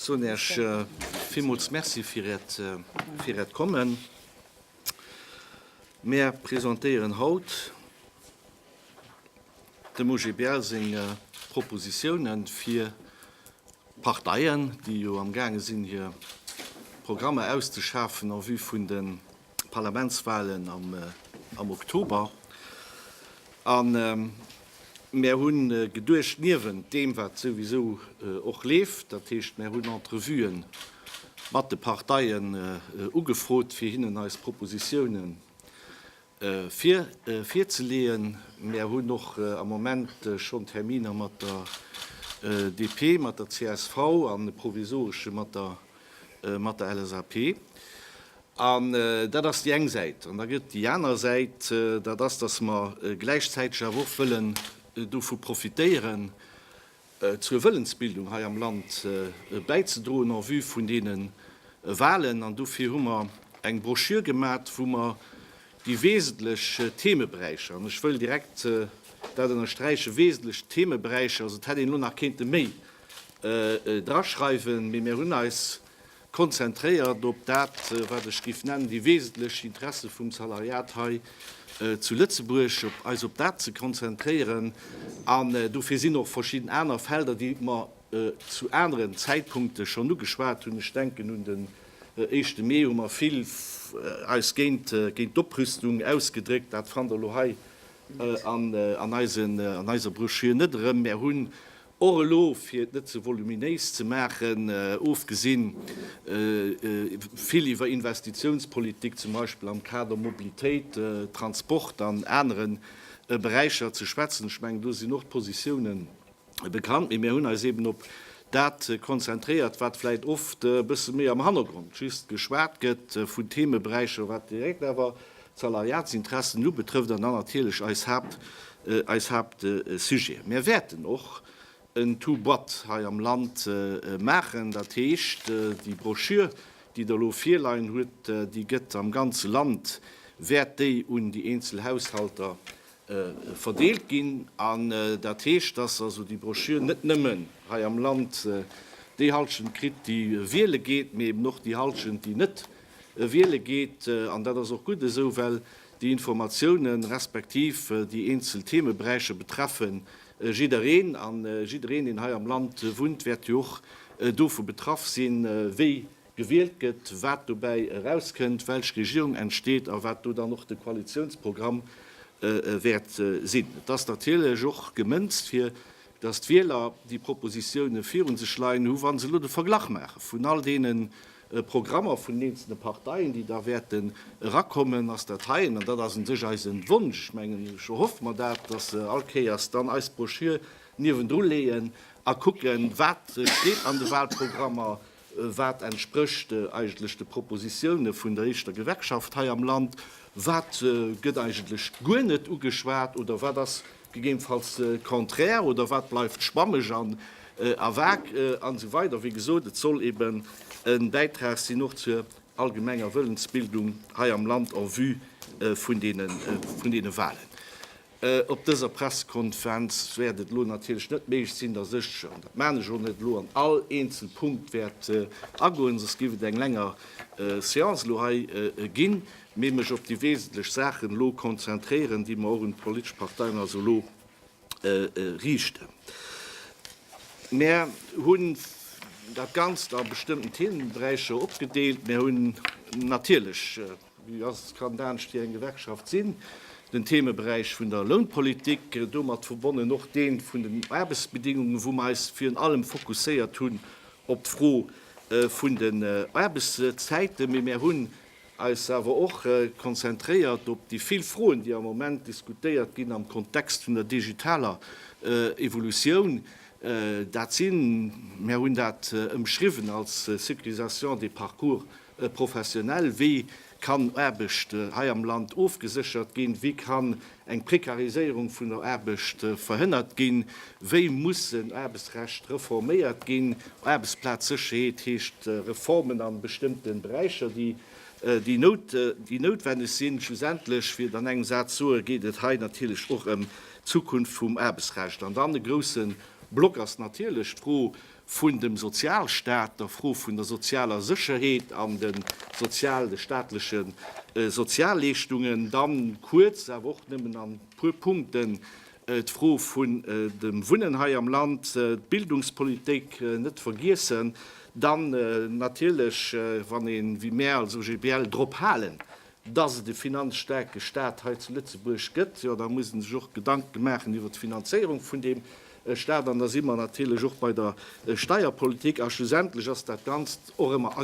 Soen Iech villmools Merci fir Äert, fir Äert Kommen. Mär presentéieren haut dem OGBL seng Propositionen fir D'Parteien, déi jo am gaange sinn hir Programmer auszeschafen en vue vun de Parlamentswahlen am Oktober. A mär hunn geduecht, niewent deem wat souwisou och leeft, dat heescht mär hunn Entrevuen mat de Parteien ugefrot fir hinnen eis Propositiounen fir virzeleeën. Mär hunn och am Moment schonn Terminer mat der DP, mat der csv an e provisoresche mat der mat der LSAP. An dat ass déi eng Säit. An da gëtt et déi aner Säit, dat ass, datt mer gläichzäiteg awer och wëllen dovu profitéieren, zur Wëllensbildung hei am Land bäizedroen en vue vun deene Wahlen. An dofir hu mer eng Broschür gemat, wou mer déi wesentlech Themeberäicher, an ech wëll direkt dat ënnersträichen, wesentlech Themeberäicher, also et hätt een elo nach kéinte méi draschreiwen, mee mir hunn eis Konzentréiert op dat, wat ech géif nennen, déi wesentlech Interesse vum Salariat hei zu Lëtzebuerg, op eis op dat ze konzentréieren. An dofir sinn och verschidden aner Felder, déi mer zu aneren Zäitpunkte schonn ugeschwat hunn, ech denken un den éischte Mee, hu mer vill eis géint d'Oprüstung ausgedréckt. Dat fannt Der elo hei an eiser Broschür net erëm. Mer hunn Och elo, fir et net ze voluminéis ze maachen, ofgesinn vill iwwer Investitiounspolitik, zum Beispill am Kader Mobilitéit, Transport an anere Beräicher ze schwätzen, ech mengen, do sinn och d'Positioune bekannt, mee mir hunn eis eeben op dat konzentréiert, wat vläicht oft e bësse méi am Hannergrond just geschwat gëtt vun Themeberäicher, wat direkt awer d'Salariatsinteressen ubetrëfft an dann natierlech eis Haapt, eis Haaptsujet. Mär wäerten och en Two Boîte hei am Land maachen, dat heescht, déi Broschür, déi Der elo virleien hutt, déi gëtt am ganze Land, wäert déi un déi eenzel Haushalter verdeelt ginn. An dat heescht, dass also déi Broschür net nëmmen hei am Land déi Halschent kritt, déi wiele geet, mee eben och déi Halschent, déi net Wiele geet, an dat ass och gutt esou, well déi Informatiounen, respektiv déi eenzel Themeberäicher betreffe jiddereen. A jiddereen, deen hei am Land wunnt, wäert jo och dovu betraff sinn, wéi gewielt gëtt, wat dobäi erauskënnt, welch Regierung entsteet a wat do dann och de Koalitiounsprogramm wäert sinn. Et ass natierlech och gemënzt, fir datt d'Wieler déi Propositione viru sech leien hu wa se elo de Verglach maache vun all deene Programmer vun den eenzelne Parteien, déi da wäerten erakommen, ass dat heien. An dat ass un sech eise Wonsch. Ech mengen, ech erhoffe mer dat, datt se all Kéiers dann eis Broschür niewendru leeën a kucken, wat steet an de Wahlprogrammer, wat entsprécht eigentlech de Propositione vun der éischter Gewerkschaft hei am Land, wat gëtt eigentlech guer net ugeschwat oder wat ass Gegebenfalls de Contraire oder wat bleift schwammeg an a vag an esou weider. Wéi gesot, et soll eben e Bäitrag sinn och zur allgemenger Wëllensbildung hei am Land en vue vun deene Wahlen. Op dëser Pressekonferenz wäert et elo natierlech net méiglech sinn, dass ech, an dat maan ech och net, elo an all eenzel Punkt wäert agoen, soss géif et eng länger Séance elo hei ginn. Mee mech op déi wesentlech Saachen elo konzentréieren, déi mer och un d'politesch Parteien also elo riichten. Mer hunn dat Ganzt a bestëmmten Themenberäicher opgedeelt. Mer hunn natierlech, wéi ass et, kann et anescht, wéi eng Gewerkschaft sinn, den Themeberäich vun der Lounpolitik, domat verbonnen och dee vun den Aarbechtsbedingungen, wou mer eis virun allem fokusséiert hunn op d'Fro vun den Aarbechtszäiten. Mee mer hunn eis awer och konzentréiert op déi vill Froen, déi am Moment diskutéiert ginn am Kontext vun der digitaler Evolutioun. Dat sinn, mär hunn dat ëmschriwwen als Sécurisation des parcours professionnels, Wéi kann Aarbecht hei am Land ofgeséchert ginn? Wéi kann eng Prekariséierung vun der Aarbecht verhënnert ginn, wéi mussen Aarbechtsrecht reforméiert ginn, Aarbechtsplazsécherheet heescht Reformen a bestëmmte Beräicher, déi noutwenneg sinn. Schlussendlech, fir et an engem Saz soen, geet et hei natierlech och ëm d'Zukunft vum Aarbechtsrecht. An dann e grousse Block ass natierlech d'Fro vun dem Sozialstaat, der Fro vun der sozialer Sécherheet an de sozial, de staatleche Sozialleeschtungen, dann kuerz, awer och nëmmen an e puer Punkten, d'Fro vun dem Wunnen hei am Land, d'Bildungspolitik net vergiessen, dann natierlech, wann een, wéi mär als OGBL, drop halen, dass et e finanzstaarke Stat hei zu Lëtzebuerg gëtt, jo da muss ee sech och Gedanke maachen iwwert d'Finanzéierung vun deem Stat. An da si mer natierlech och bei der Steierpolitik. A schlussendlech ass dat Ganzt och ëmmer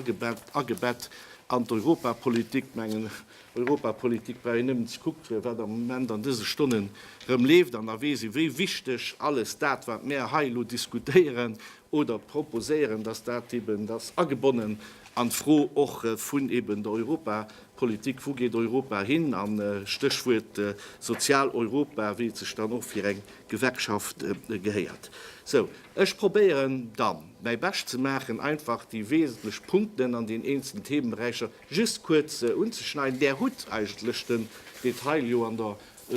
agebett an d'Europapolitik. Mengen, Europapolitik brauch een nëmmen ze kucktre wat am Moment an dëse Stonnen erëm leeft, an da weess ee wéi wichteg alles dat wat mär hei elo diskutéieren oder proposéieren, dass dat eben, dass agebonnen an d'Fro och vun eben der Europapolitik, wou geet Europa hin, an Stéchwuert Sozialeuropa, wéi et sech dann och fir eng Gewerkschaft gehéiert. Sou, ech probéieren dann, mäi Bescht ze maachen, einfach déi wesentlech Punkten an den eenzelnen Themenberäicher just kuerz unzeschneiden. Där hutt eigentlech den Detail jo an der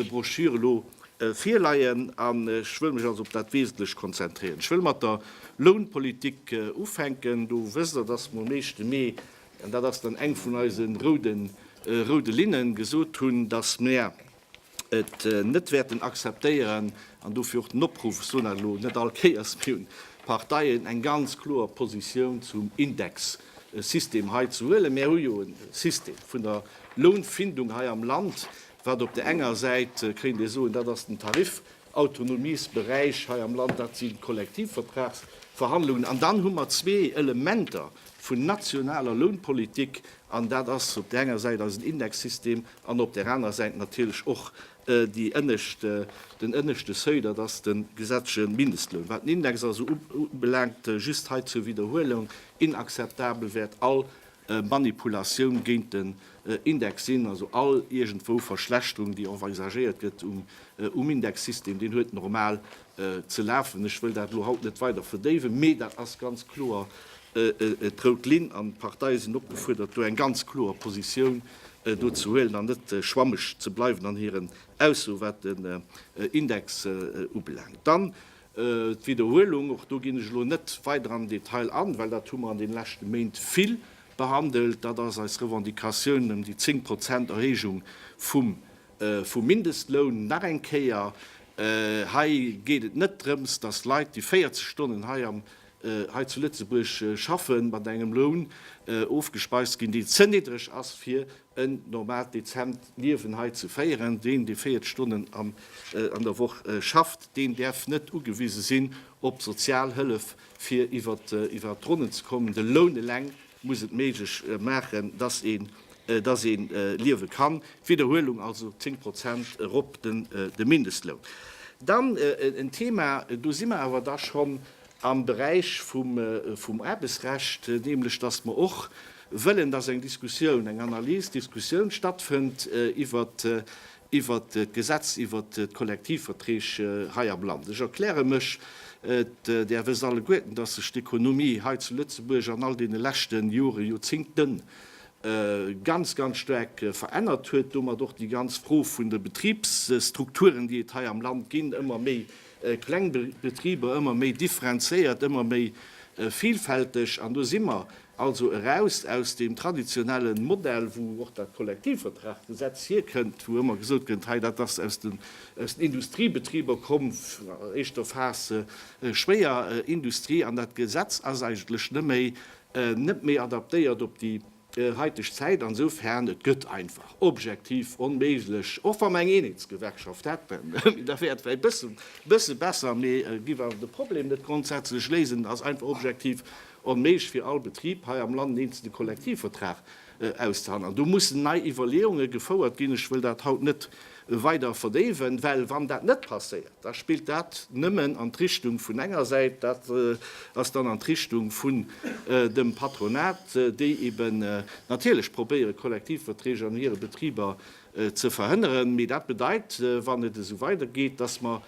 Broschür elo virleien an ech wëll mech also op dat Wesentlecht konzentréieren. Ech wëll mat der Lounpolitik ufänken. Do wësst Der, dass mer um éischte Mee, an dat ass dann eng vun eise roude Linnen, gesot hunn, dass mer et net wäerten akzeptéieren, an dofir och den Opruff, ech soen dat elo net all Kéiers, mir un d'Parteien eng ganz kloer Positioun zum Indexsystem hei ze huelen. Mer hu jo e System vun der Lounfindung hei am Land, wat op der enger Säit, kéint ee soen, dat ass den Tarifautonomiesberäich hei am Land, dat sinn d'Kollektivvertragsverhandlungen. An dann hu mer zwee Elementer vun nationaler Lounpolitik, an dat ass op der enger Säit eisen Indexsystem an op der anerer Säit natierlech och déi ënnescht, den ënneschte Seuil, dat ass de gesetzleche Mindestloun. Wat den Index also ubelaangt, just hei zur Wiederhuelung, inakzeptabel wäert all Manipulatioun géint den Index sinn. Also all iergendwou Verschlechterung, déi envisagéiert gëtt um Indexsystem, deen huet normal ze lafen. Ech wëll dat elo haut net weider verdéiwen, mee dat ass ganz kloer d'rout Linn an d'Parteie sinn opgefuerdert, do eng ganz kloer Positioun do ze huelen an net schwammeg ze bleiwen an hiren Aussoe wat den Index ubelaangt. Dann D'Widderhuelung, och do ginn ech elo net weider am Detail an, well dat hu mer an deene leschte Méint vill behandelt, dat ass eis Revendicatioun ëm déi 10 Prozent Erhéijung vum Mindestloun. Nach eng Kéier, hei geet et net drëms, datt Leit, déi 40 Stonnen hei zu Lëtzebuerg schaffen, mat engem Loun ofgespeist ginn, deen ze niddreg ass, fir en normaalt, dezent Liewen hei ze féieren. Deen, dee 40 Stonnen an der Woch schafft, deen däerf net ugewise sinn op Sozialhëllef, fir iwwer d'Ronnen ze kommen. De Loun eleng muss et méiglech maachen, dass een, dass ee liewe kann. Widderhuelung also, 10 Prozent erop de Mindestloun. Dann en Thema, do si mer awer da schonn am Beräich vum Aarbechtsrecht, nämlech dass mer och wëllen, dass eng Diskussioun, eng Analys, Diskussioun stattfënnt iwwert d'Gesetz iwwert d'Kollektivverträg hei am Land. Ech erkläre mech, et där wësst alleguerten, dass sech d'Ekonomie hei zu Lëtzebuerg an all deene leschte Joren, Joerzingten ganz, ganz staark verännert huet, domat och déi ganz Fro vun de Betribsstrukturen, déi et hei am Land ginn, ëmmer méi kleng Betriber ëmmer méi differenzéiert, ëmmer méi vilfälteg. An do si mer also eraus aus deem traditionelle Modell, wou och dat Kollektivvertraggesetz hierkënnt, wou ëmmer gesot gëtt, hei dat ass aus den Industriebetriber komm, éischter Phase schwéier Industrie. An dat Gesetz ass eigentlech net méi adaptéiert op déi heiteg Zäit an esoufern et gëtt einfach objektiv onméiglech, och wa mer eng Eenheetsgewerkschaft hätten, mee da wär et vläit e bësse besser, mee et giff awer de Problem net grondsätzlech léisen. Et ass einfach objektiv onméiglech fir all Betrib hei am Land en eenzele Kollektivvertrag auszehandelen. An do mussen nei Iwwerleeunge gefouert ginn. Ech wëll dat haut net weider verdéiwen, well wann dat net passéiert, da spillt dat nëmmen an d'Richtung vun enger Säit, dat ass dann an d'Richtung vun dem Patronat, déi eben natierlech probéiere Kollektivverträg an hire Betriber ze verhënneren. Mee dat bedeit, wann et esou weidergeet, dass mer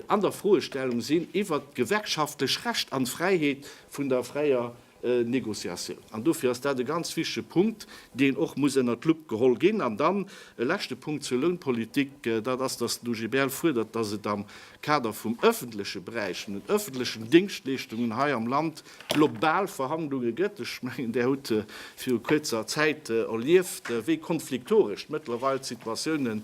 an der Froestellung sinn iwwert d'gewerkschaftlech Recht an d'Fräiheet vun der fräier Négociatioun. An dofir ass dat e ganz wichtige Punkt, deen och muss ënnert d'Lupp geholl ginn. An dann e leschte Punkt zur Lounpolitik, dat ass, dass den OGBL fuerdert, dass et am Kader vum öffentleche Beräich, vun den öffentlechen Dingschtleeschtungen hei am Land global Verhandlunge gëtt. Ech mengen, Der hutt viru kuerzer Zäit erlieft, wéi konfliktoresch mëttlerweil d'Situatioune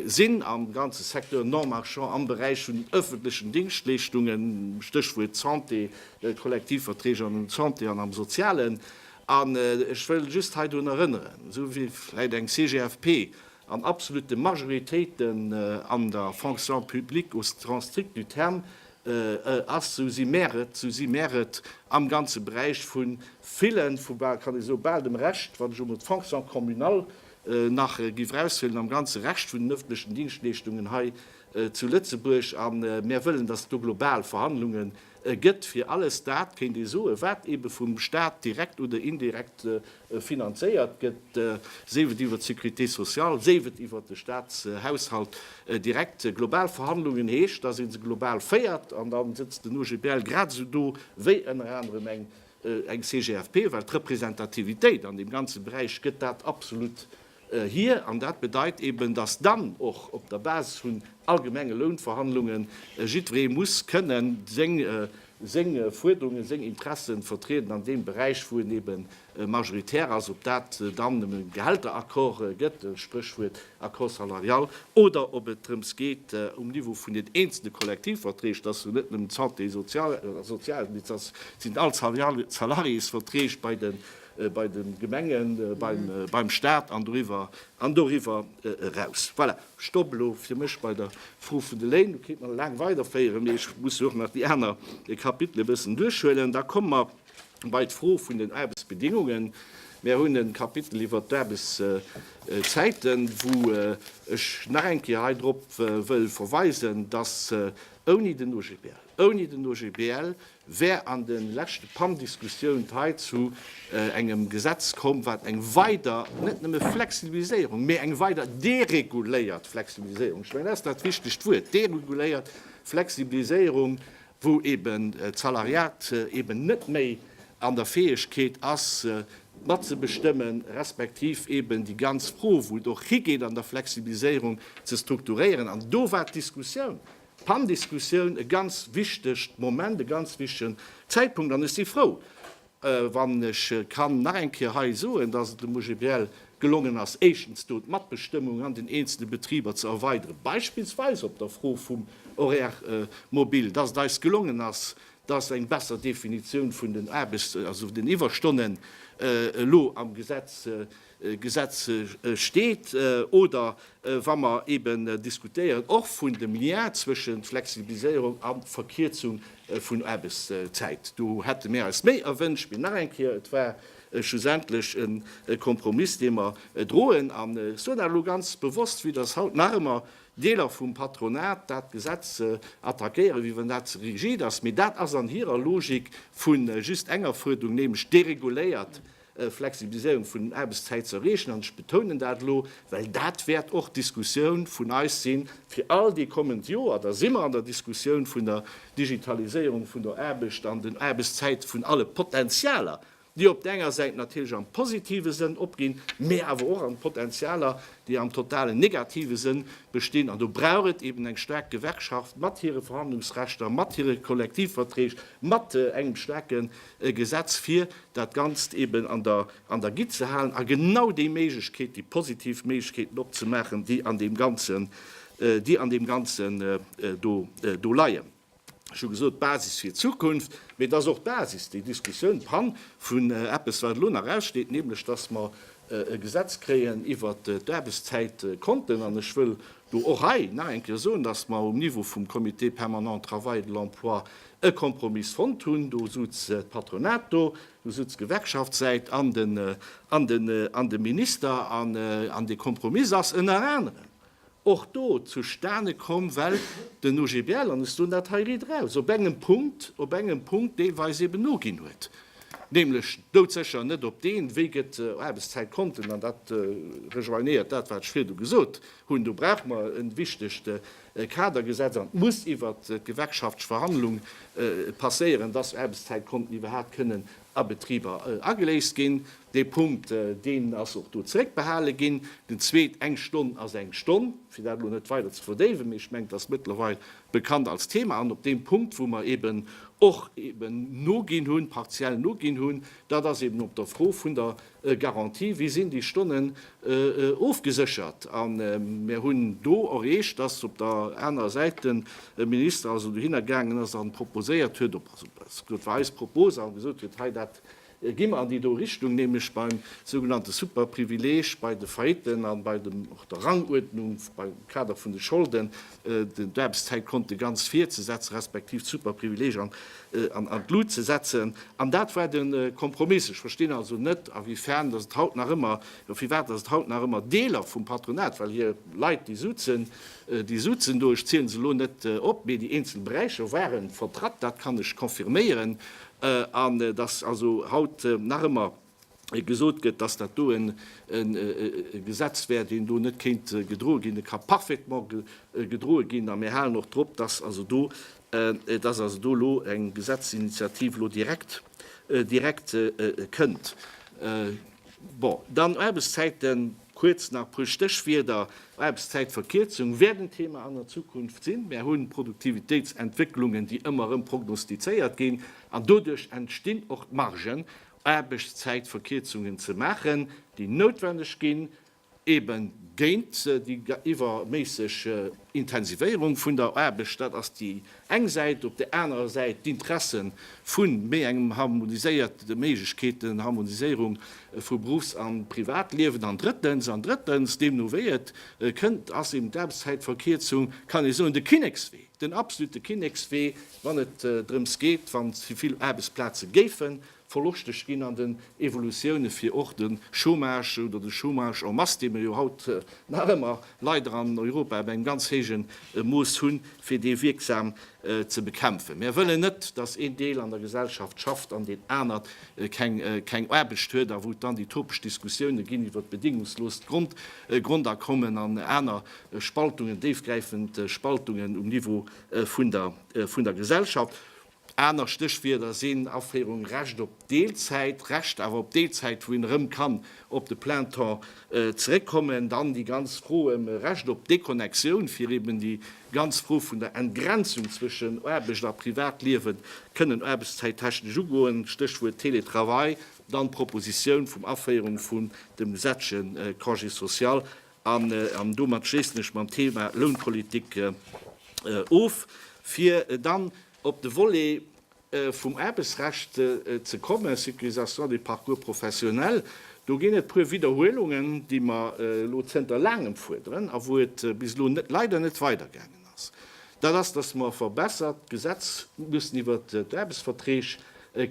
sinn am ganze Secteur non-marchand am Beräich vun den öffentlechen Dingschtleeschtungen, Stéchwuert Santé, Kollektivverträg an um Santé an am Sozialen. An ech wëll just hei drun erënneren, esou wéi vläicht eng CGFP an absolute Majoritéite an der Fonction publique au sens strict du terme ass, esou si mär et, esou si mär et am ganze Beräich vu villen, vu bal, kann ee soe bal dem Rescht, wann ech emol d'Fonction communale nach géif eraushuelen, am ganze Rescht vun den öffentlechen Dienstleeschtungen hei zu Lëtzebuerg. A mär wëllen, dass do global Verhandlungen, E gëtt fir alles dat, kéint ee soen, wat eebe vum Staat direkt oder indirekt finanzéiert gëtt, séif et iwwert d'Sécurité sociale, séif et iwwert de Staatshaushalt, direkt. Global Verhandlungen heescht, dass ee se global féiert. An da sëtzt den OGBL grad esou do wéi ënner anerem eng CGFP, well d'Representativitéit an deem ganze Beräich gëtt dat absolut Hir, an dat bedeit eben, datt dann och op der Basis vun allgemenge Lounverhandlungen jiddweree muss kënnen seng Fuerderungen, seng Interessen vertrieden an deem Beräich, wou en eben majoritär ass. Ob dat dann e Gehälteraccord gëtt, Spréchwuert Accord salarial, oder ob et drëms geet um Niveau vun den eenzele Kollektivverträg, datt jo net nëmmen d'Santé, Sozial, Sozialdienst, datt sinn all Salariésverträg bei den bei de Gemengen, beim Stat an doriwwer eraus. Voilà, ech stoppen elo fir mech bei der Fro vun de Léin. Do kéint mer nach laang weiderféieren, mee ech muss jo och nach déi aner Kapitele e bëssen duerchhuelen. Da komme mer bei d'Fro vun den Aarbechtsbedingungen. Mir hunn e Kapitel iwwert d'Aarbechtszäiten, wou ech nach eng Kéier hei drop wëll verweisen, dass ouni den OGBL, ouni den OGBL, wär an de leschte PAN-Diskussiount hei zu engem Gesetz komm, wat eng weider, net nëmme Flexibiliséierung, mä eng weider dereguléiert Flexibiliséierung, ech mengen dat ass dat richtegt Wuert, dereguléiert Flexibiliséierung, wou eeben d'Salariat eeben net méi an der Fäegkeet ass matzebestëmmen, respektiv eeben déi ganz Fro, wou et och higeet an der Flexibiliséierung, ze strukturéieren. An do war d'Diskussioun, D'Pandiskussioun, e ganz wichtegt Moment, e ganz wichtegen Zäitpunkt. An ech si frou, wann ech kann nach eng Kéier hei soen, dass et dem OGBL gelongen ass, éischtens do d'Matbestëmmung an den eenzele Betriber ze erweideren, beispillsweis op der Fro vum Horaire mobile, dass et eis gelongen ass, dass eng besser Definitioun vun den Aarbechts-, also vun den Iwwerstonnen elo am Gesetz Gesetz steet oder wa mer eeben diskutéieren och vun dem Lien zwëschen Flexibiliséierung a Verkierzung vun Aarbechtszäit. Do hätte mir eis méi erwënscht, mee nach eng Kéier, et war schlussendlech e Kompromiss, dee mer droen. An ech soen dat elo ganz bewosst, vue dass haut nach ëmmer Deeler vum Patronat dat Gesetz attackéieren, wéi wann dat ze rigid ass, mee dat ass an hirer Logik vu just enger Fuerderung, nämlech dereguléiert Flexibiliséierung vun den Aarbechtszäit ze erreechen, an ech betounen dat elo, well dat wäert och d'Diskussioun vun eis si fir all déi kommend Joer, da si mer an der Diskussioun vun der Digitaliséierung vun der Aarbecht an den Aarbechtszäite vun alle Potentialer, déi op der enger Säit natierlech am positive Sënn opginn, mä awer och an Potentialer, déi am totalen negative Sënn bestinn. An do brauch et eben eng staark Gewerkschaft mat hire Verhandlungsrechter, mat hire Kollektivverträg, mat engem staarke e Gesetz fir dat Ganzt eben an der an der Gitt ze halen a genau déi Méiglechkeet, déi positiv Méiglechkeeten opzemaachen, déi an deem Ganzen déi an deem Ganzen do do leien. Ech hu gesot, d'Basis fir d'Zukunft, mee et ass och d'Basis, déi Diskussioun, d'Pann vun eppes wat elo nach aussteet, nämlech datt mer e Gesetz kréien iwwert d'Aarbechtszäitkonten an ech wëll Do och hei nach eng Kéier soen, dass mer um Niveau vum Comité permanent Travail de l'emploi e Kompromiss fonnt hunn. Do sutz d'Patronat do, do sutz d'Gewerkschaftssäit an de, an de, an de Minister. An, an dee Kompromiss ass ënner anerem och do zustane komm, well den OGBL, an ech soen dat hei riederaus, op engem Punkt, op engem Punkt deelweis eeben noginn huet. Nämlech doudsécher net op deen Wee gëtt Aarbechtszäit konten, an dat rejoignéiert dat, wat ech virdu gesot hunn. Do brauch mer e wichtegt Kadergesetz, an et muss iwwert d'gewerkschaftlich Verhandlung passéieren, dass Aarbechtszäit konten iwwerhaapt kënnen a Betriber ageléist ginn. Dee Punkt, deen ass och do zeréckbehale ginn. Den zweet, eng Stonn ass eng Stonn, fir dat elo net weider ze verdéiwen, mee ech mengen, dass mëttlerweil bekannt als Thema an op deem Punkt, wou mer eeben och eeben noginn hunn, partiell noginn hunn, dat ass eeben op der Fro vun der Garantie, wéi sinn déi Stonnen ofgeséchert. A mir hunn do erreecht, dass op der anerer Säit de Minister also dohinner gaangen ass an proposéiert huet, also dat war eis Propos, a gesot huet, hei dat Gi mer an déi do Richtung, nämlech beim sougenannte Superprivileg, bei de Faillitten a bei dem, och der Ranguerdnung beim Kader vun de Scholden, d'Aarbechtszäitkonte ganz vir ze setzen, respektiv d'Superprivileg an an d'Lut ze setzen. An dat war de Kompromiss. Ech verstinn also net, a wéi fern datt et haut nach ëmmer, oder firwat datt et haut nach ëmmer Deeler vum Patronat, well hir Leit déi sutzen, déi sutzen do, ech ziele se elo net op, mee déi eenzel Beräicher ware vertratt, dat kann ech confirméieren, an dass also haut nach ëmmer gesot gëtt, dass dat do e Gesetz wär, deen do net kéint gedroe ginn. E ka parfaitement gedroe ginn a mir halen och drop, dass also do, dass also do elo eng Gesetzesinitiativ elo direkt, direkt kënnt. Bon, dann Aarbechtszäiten. Kuerz nach e puer Stéchwierder, Aarbechtszäitverkierzung wäert en Thema an der Zukunft sinn. Mär hunn Produktivitéitsentwécklungen, déi ëmmer erëm prognostizéiert ginn, an doduerch entstinn och d'Margen, Aarbechtszäitverkierzungen ze maachen, déi noutwendeg ginn, ebe géint déi iwwerméisseg Intensivéierung vun der Aarbecht. Dat ass déi eng Säit, op där anerer Säit d'Interesse vu méi engem harmoniséiert, de Méiglechkeeten, Harmoniséierung vu Beruffs a Privatliewen, an drëttens, an drëttens, deemno wéi et kënnt, ass eben d'Aarbechtszäitverkierzung, kann ee soen, de Kinnekswee, den absolute Kinnekswee, wann et drëms geet, wann ze vill Aarbechtsplaze géifen Verloschteg ginn an den Evolutioune fir och de Chômage oder de Chômage en masse, dee mer jo haut nach ëmmer leider an Europa ab engem ganz héije Mooss hunn, fir dee wierksam ze bekämpfen. Mär wëllen net, datt een Deel an der Gesellschaft schafft an deen anert keng Aarbecht huet a wou et dann déi topesch Diskussioune ginn iwwer d'bedéngungsloost Grondakommen an aner Spaltungen, déifgräifend Spaltungen um Niveau vun der Gesellschaft. Aner Stéchwierder sinn Aféierung, Recht op Deelzäit, Recht awer op Deelzäit, wou een erëm kann op de Plein temps zeréckkommen. Dann déi ganz Fro ëm e Recht op Déconnexioun, fir eben déi ganz Fro vun der Entgrenzung zwëschen Aarbecht a Privatliewen kënnen aarbechtszäittechnesch ugoen, Stéchwuert Télétravail. Dann d'Propositioun vum Aféierung vun dem Gesetzchen Congé social. An domat schléissen ech mam Thema Lounpolitik of. Fir dann op de Volet vum Aarbechtsrecht ze kommen, Sécurisation des parcours professionnels, do ginn et e puer Widderhuelungen, déi mer elo zënter laangem fuerderen a wou et bis elo leider net weidergaangen ass. ass, dat ass, dass mer e verbessert Gesetz mussen iwwer d'Aarbechtsverträg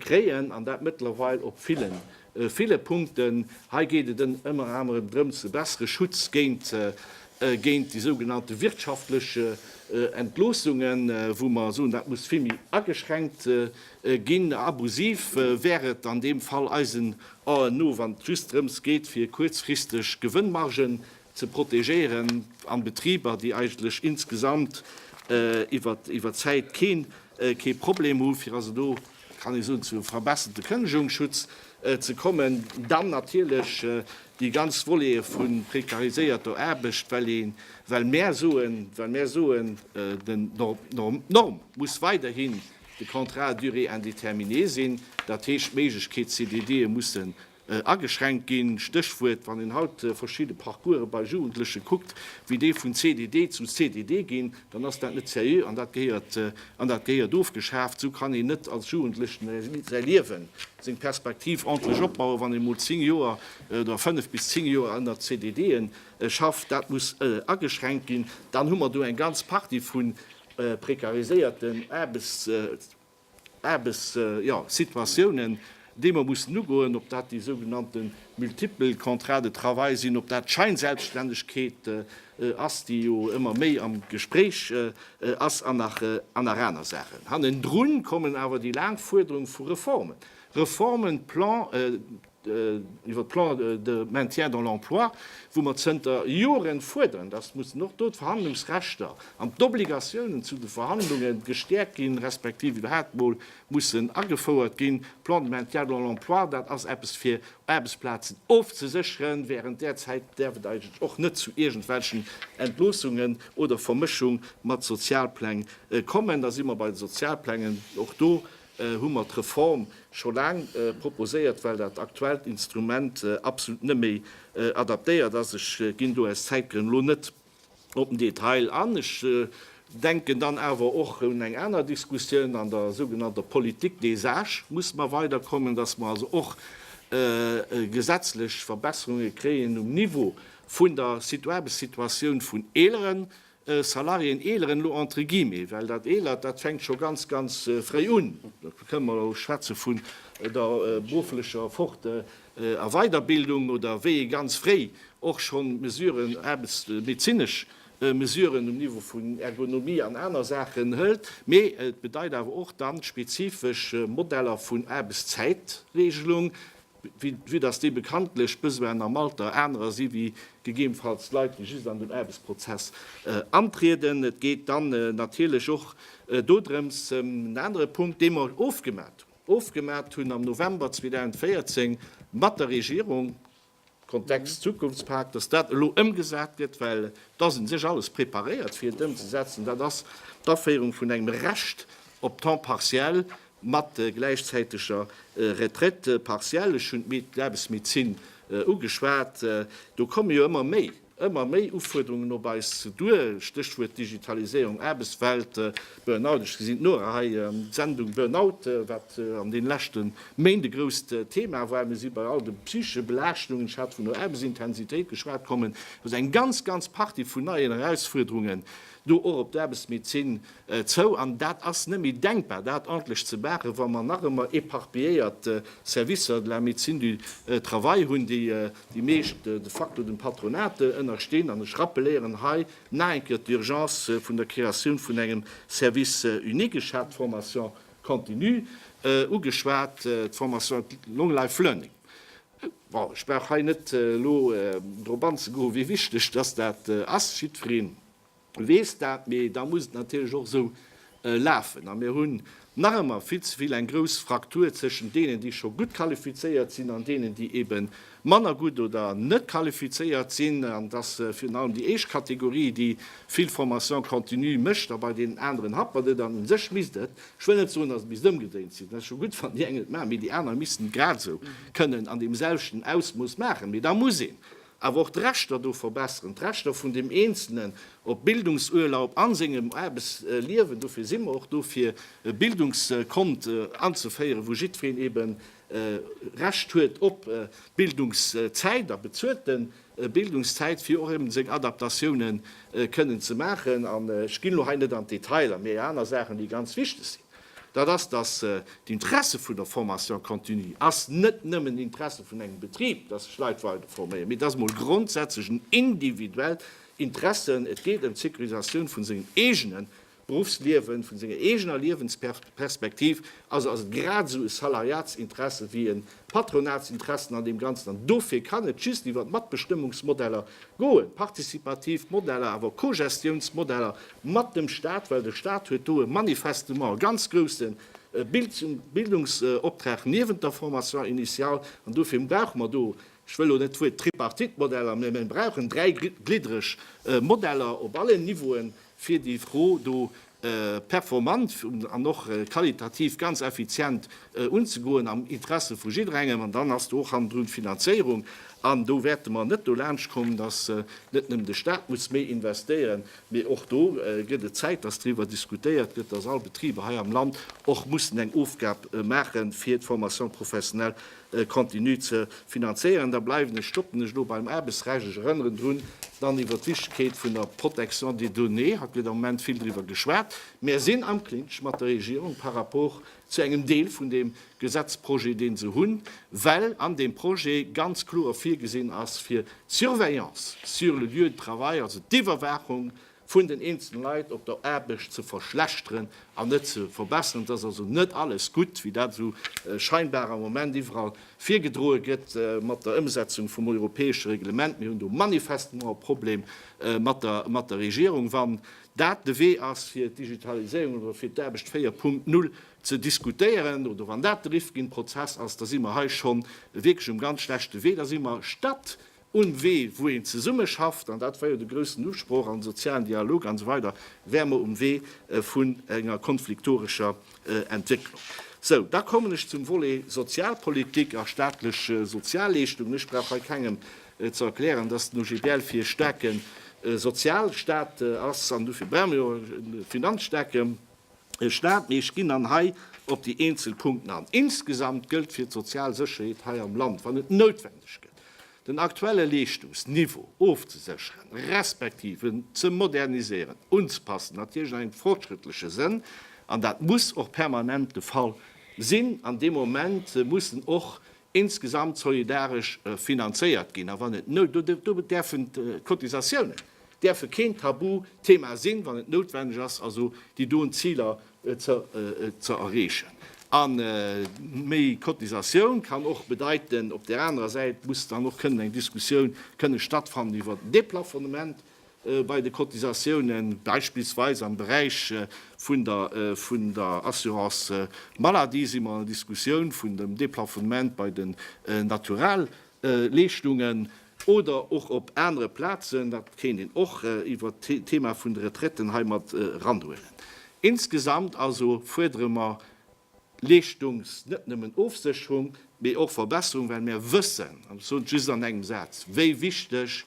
kréien, an dat mëttlerweil op villen, ville Punkten. Hei geet et ënner anerem drëms, e bessere Schutz géint, géint déi sougenannte wirtschaftlech Entloossungen, wou mer soen, dat muss vill méi ageschränkt ginn. Abusiv wär et an deem Fall eisen Aen no, wann et just drëms geet, fir kuerzfristeg Gewënnmargen ze protegéieren an Betriber, déi eigentlech insgesamt iwwert d'Zäit kee Problem hunn, fir also do, kann ee soen, zu e verbesserte Kënnegungsschutz ze kommen. Dann natierlech déi ganz Volete vu prekariséierter Aarbecht, well mär soen, d'Norm muss weiderhin de Contrat à durée indéterminée sinn, dat heescht, d'Méiglechkeet, CDDe mussen Ageschränkt ginn. Stéchwuert, wann een haut verschidde Parcourse bei Jugendleche kuckt, wéi déi vun CDD zu CDD ginn, dann ass dat net seriö an dat gehéiert, an dat gehéiert ofgeschaaft. Esou kann een net als Jugendlechen säi Liewen, seng Perspektiv ordntlech opbauen, wann ee mol zéng Joer oder fënnef bis zéng Joer ënner CDDe schafft. Dat muss ageschränkt ginn. Dann hu mer do eng ganz Partie vu prekariséierten Aarbechts. Aarbechtssituatiounen, déi mer mussen ugoen, ob dat déi sougenannte multiple Contrats de travail sinn, ob dat d'Scheinselbststännegkeet ass, déi jo ëmmer méi am Gespréich ass, an nach aner Saachen. Hannendrun kommen awer déi laang Fuerderung vu Reformen, Reformen, Plan, iwwer Plan de maintien dans l'emploi, wou mer zënter Jore fuerderen, dass mussen och do d'Verhandlungsrechter an d'Obligatiounen zu de Verhandlunge gestäerkt ginn, respektiv iwwerhaapt emol mussen agefouert ginn. Plan de maintien dans l'emploi, dat ass eppes, fir Aarbechtsplazen ofzesécheren. Während där Zäit däerf et eigentlech och net zu iergendwelchen Entloossungen oder Vermëschung mat Sozialpläng kommen. Da si mer bei de Sozialplängen. Och do hu mer d'Reform scho laang proposéiert, well dat aktuellt Instrument absolut net méi adaptéiert ass. Ech ginn do aus Zäitgrënn elo net op den Detail an. Ech denken dann awer och un eng aner Diskussioun an der sougenannter Politique des âges musse mer weiderkommen, dass mer also och gesetzlech Verbesserunge kréien um Niveau vun der Aarbechtsituatioun vun Eeleren, Salariéen eeleren elo entre guillemets, well dat eelert, dat fänkt scho ganz, ganz fréi un. Da kënnen mer elo schwätze vun der berufflecher Fort a Weiderbildung oder wéi ee ganz fréi och schonn Mesuren, aarbechtsmedezinesch Mesuren um Niveau vun Ergonomie an aner Saachen hëlt. Mee et bedeit awer och dann spezifesch Modeller vun Aarbechtszäitregelung, Vue dass déi bekanntlech Besoinen am Alter anerer si wéi gegebenfalls Leit, déi just an den Aarbechtsprozess antrieden. Et geet dann natierlech och dodrëms, en anere Punkt, dee mer ofgemat hunn, ofgemat hunn am November 2014 mat der Regierung, Kontext Zukunftspak, dass dat elo ëmgesat gëtt, well et ass u sech alles preparéiert fir et ëmzesetzen, dat ass d'Aféierung vun engem Recht op Temps partiel mat gläichzäiteger Retraite partielle, ech hunn d'Aarbechtsmedezin ugeschwat, do komme jo ëmmer méi, ëmmer méi Ufuerderungen op eis duer, Stéchwuert Digitaliséierung, Aarbechtswelt, Burnout, ech gesinn d'Nora hei, d'Sendung Burnout, wat an deene leschte Méint e grousst Thema war, mir si bei all de psychesche Belaaschtungen, ech hat vun der Aarbechtsintensitéit geschwat, kommen also eng ganz, ganz Partie vun neien Erausfuerderungen do och op d'Aarbechtsmedezin. Zou, an dat ass net méi denkbar, dat ordentlecht ze maachen, wa mer nach ëmmer éparpilléiert Services de la médecine du travail hunn, déi déi meescht de facto dem Patronat ënnerstinn. An ech rappelieren hei nach eng Kéier d'Urgence vun der Créatioun vun engem Service unique. Ech hat d'Formation continue ugeschwat, d'Formation long life learning. Bon, ech brauch hei net elo drop anzegoen, wéi wichteg dass dat ass. Jiddwereen weess dat, mee da muss et natierlech och esou lafen. A mir hunn nach ëmmer vill ze vill eng grouss Fraktur zwëschen deenen, déi scho gutt qualifizéiert sinn, an deenen, déi ebe manner gutt oder net qualifizéiert sinn. An dass virun allem déi éischt Kategorie, déi vill Formation continue mécht, a bei deenen aneren happert et. An u sech misst et, ech wëll net soen, dass et misst ëmgedréint sinn, dat ass scho gutt, wann déi eng et maachen, mee déi aner missten et grad esou kënnen an deem selwechten Ausmooss maachen. Mee da muss een Awer och d'Rechter do verbesseren, d'Rechter vun dem Eenzelnen op Bildungsurlaub a sengem Aarbechtsliewen. Dofir si mer och do fir e Bildungskont anzeféieren, wou jiddwereen ebe Recht huet op Bildungszäit a bezuelte Bildungszäit, fir och eben seng Adaptatioune kënnen ze maachen. An ech ginn elo hei net an d'Detailer, mee aner Saachen, déi ganz wichteg sinn. dat ass, dass d'Interesse vun der Formation continue ass net nëmmen d'Interesse vun engem Betrib, dass sech Leit weider forméieren, mee et ass emol grondsätzlech en individuellt Interesse. Et geet ëm d'Sécurisatioun vun sengem eegene Berufsliewen, vun senger eegener Liewensperspektiv. Also ass et grad esou e Salariatsinteresse wéi e Patronatsinteressen an deem Ganzen. An dofir kann et just iwwer d'Matbestëmmungsmodeller goen, partizipativ Modeller, awer och Cogestiounsmodeller mat dem Stat, well de Stat huet do e manifestement e ganz grouse Bildungsoptrag niewent der Formation initiale. An dofir brauche mer do, ech wëll elo net d'Wuert Tripartite-Modeller, mä mir brauchen dräigliddereg Modeller op allen Niveauen, fir déi Fro do performant an och qualitativ ganz effizient unzegoen am Interesse vu jidderengem. An dann ass do och hannendrun d'Finanzéierung. An do wäerte mer net dolaanscht kommen, dass net nëmmen de Stat muss méi investéieren, mee och do gëtt et Zäit, dass driwwer diskutéiert gëtt, dass all Betriber hei am Land och mussen eng Ofgab maachen, fir d'Formation professionnelle continu ze finanzéieren. Da bleiwen ech, stoppen ech elo beim Aarbechtsrecht. Ech erënneren drun, dann iwwert d'Wichtegkeet vun der Protection des données. Haut gëtt am Moment vill driwwer geschwat. Mär sinn am Clinch mat der Regierung par rapport zu engem Deel vun deem Gesetzprojet, deen se hunn, well an deem Projet ganz kloer virgesinn ass, fir d'Surveillance sur le lieu de travail, also d'Iwwerwaachung vun den eenzelen Leit op der Aarbecht ze verschlechteren an net ze verbesseren. Et ass also net alles gutt, wéi dat esou scheinbar am Moment iwwerall virgedroe gëtt mat der Ëmsetzung vum europäesche Reglement. Mir hunn do manifestement e Problem mat der Regierung, wann dat de Wee ass, fir d'Digitaliséierung oder fir d'Aarbecht 4.0 ze diskutéieren oder wann dat de Rifkin-Prozess ass, da si mer hei scho wierklech um ganz schlechte Wee. Da si mer, statt Un Wee wou een zesumme schafft, an dat war jo de groussen Usproch, an sozialen Dialog an esou weider, wäre mer um Wee vun enger konfliktorescher Entwécklung. Sou, da kommen ech zum Volet Sozialpolitik a staatlech Sozialleeschtungen. Ech brauch hei kengem ze erklären, dass den OGBL fir e staarke Sozialstaat ass, an dofir brauche mer jo och e Finanzstaat. e Staat, mee ech ginn dann hei op déi eenzel Punkten an. Insgesamt gëllt fir d'sozial Sécherheet hei am Land, wann et noutwendeg gëtt, den aktuelle Leeschtungsniveau ofzesécheren, respektiv en ze moderniséieren, unzpassen, natierlech an engem fortschrëttleche Sënn, an dat muss och permanent de Fall sinn, an dee Moment mussen och insgesamt solidaresch finanzéiert ginn, a wann et noutwendig ass, do däerfen d'Cotisatiounen däerfe keen Tabuthema sinn, wann et noutwendeg ass, also déi doen Ziler ze erreechen. A méi Cotisatioun kann och bedeiten, op där anerer Säit muss dann och kënnen eng Diskussioun kënne stattfannen iwwert den Deplafonnement, bei de Cotisatiounen, beispillsweis am Beräich vun der vun der Assurance maladie si mer an der Diskussioun vun dem Deplafonnement bei den Naturalleeschtungen oder och op anere Plazen. Dat kéint een och iwwert d'Thema vun de Retraiten heimat eranhuelen. Insgesamt also fuerdere mer Leeschtungs net nëmmen Ofsécherung, mee och Verbesserung, well mär wëssen, an ech soen et just an engem Saz, wéi wichteg